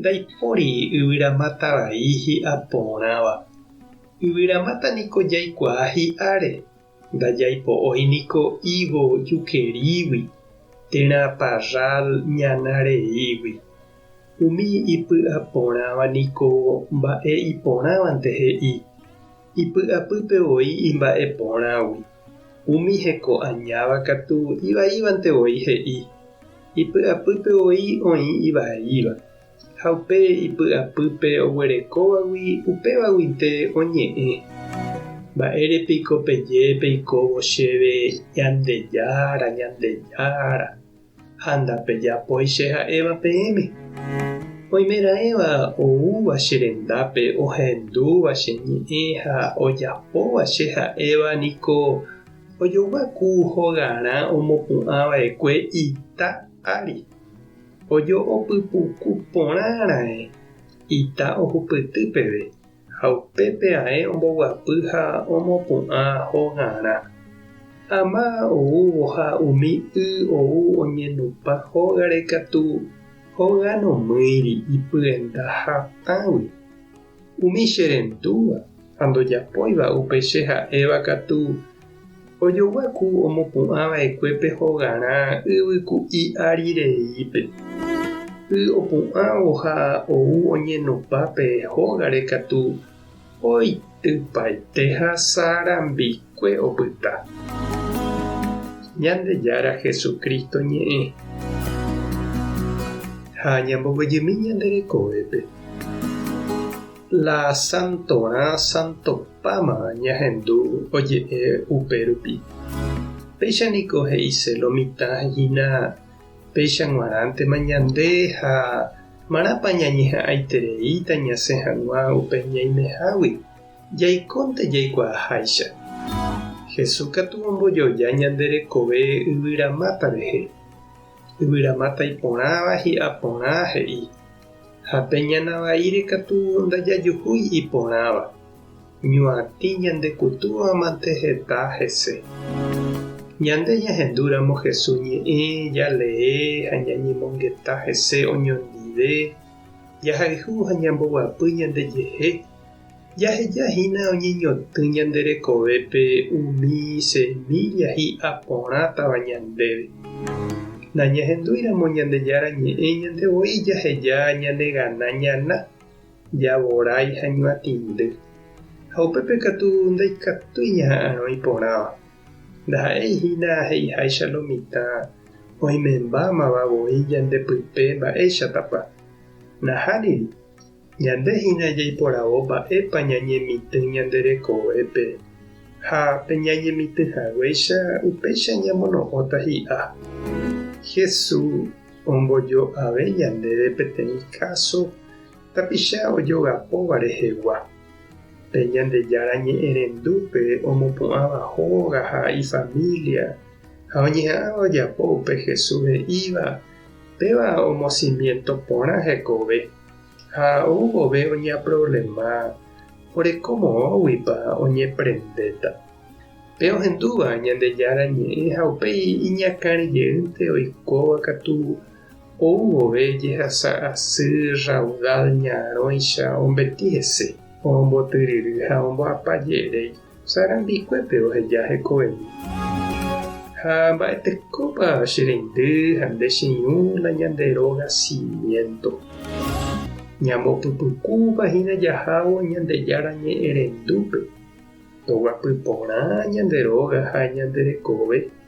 Ndaipóri yvyramáta vai hi'a porãva. Yvyramáta niko jaikuaa hi'áre, ndajaipo'ói niko higo jukerígui, térã parrál ñana reígui. Umi ipy'a porãva niko mba'e iporãvante he'i. Ipy'apýpe voi imba'e porãgui, umi heko añáva katu ivaívante voi he'i, Ipy'apýpe voi oĩ ivaíva, ha upe ipy'apýpe oguerekóvagui upévaguinte oñe'ẽ, Mba'ére piko peje peikóvo chéve Ñandejára, Ñandejára? ha ndapejapói che ha'éva peẽme. Oimeraẽva oúva che rendápe ohendúva che ñe'ẽ ha ojapóva che ha'éva niko ojoguaku hogarã omopu'ã vaekue ita ári. Ojo'opypuku porã raẽ ita ohupyty peve. Ha upépe ae omboguapy ha omopu'ã hogarã. Ama oúvo ha umi y ou oñenupã hógare katu hoga nomýiri ipyenda hatãgui. Umi che rendúva ha ndojapóiva upe che ha'éva katu Ojogyaku omopu'ã va'ekue pe hogarã yvy ku'i ári reípe. Y opu'ãvo ha ou oñenopa pe hógare katu oitypaite ha sarambikue opyta. Ñandejára Jesucristo ñe'ẽ ha ñambovyjymi ñande rekovépe. La santorã santopáma ñahendu oje'e upérupi. Péicha niko he'ise lo mitã hína péicha g̃uarãntema ñande ha márãpa ñañeha'ãitereíta ñasẽ hag̃ua upe ñaimehágui, jaikónte jaikuaaháicha. Jesús katu ombojoja ñande rekove yvyramáta rehe. Yvyramáta iporãva hi'a porã he'i. ha pe ñana vaíre katu ndajajuhúi iporãva, ñuatĩ ñandekutúvamante heta hese. Ñande ñahendúramo Jesús ñe'ẽ, jalee ha ñañemongeta hese oñondive, jahayhu ha ñamboguapy ñandejehe Jaheja hína oñeñotỹ ñande rekovépe umi semílla hi'a porãtava ñandéve. Nañahendúiramo Ñandejára Ñe'ẽ ñande voi jaheja ñanegana ñana, javorái ha ñuatĩndy. Ha upépe katu ndaikatúi ñaha'arõ iporãva. Ndaha'éi hína he'iháicha lo mitã oimembámava voi ñande pype mba'éichatapa. Nahániri, Ñande hína jaiporavo mba'épa ñañemitỹ ñande rekovépe, ha pe ñañemitỹ haguéicha upéicha ñamono'õta hi'a. Jesús ombojo'ave ñandéve peteĩ káso tapicha ojogapóva rehegua. Pe Ñandejára ñe'ẽrendúpe omopu'ãva hóga ha ifamília ha oñeha'ãva ojapo upe Jesús he'íva, péva omosimiento porã hekove. Ha ou vove oñeaproblema oreko moõguipa oñeprendéta. Pe ohendúva Ñandejára Ñe'ẽ ha upéi iñakãre jeýnte oikóva katu ou vove jehasa asy raudal ñarõicha ombeti hese, ombotyryry ha omboapa jeréi. Che rembikuépe oheja hekoveve. Ha mba'etekópa che reindy ha nde che irũ la ñande róga cimiento. Ñambopypykúva hína jahávo Ñandejára ñe'ẽrendúpe, toguapy porã ñande róga ha ñande rekove.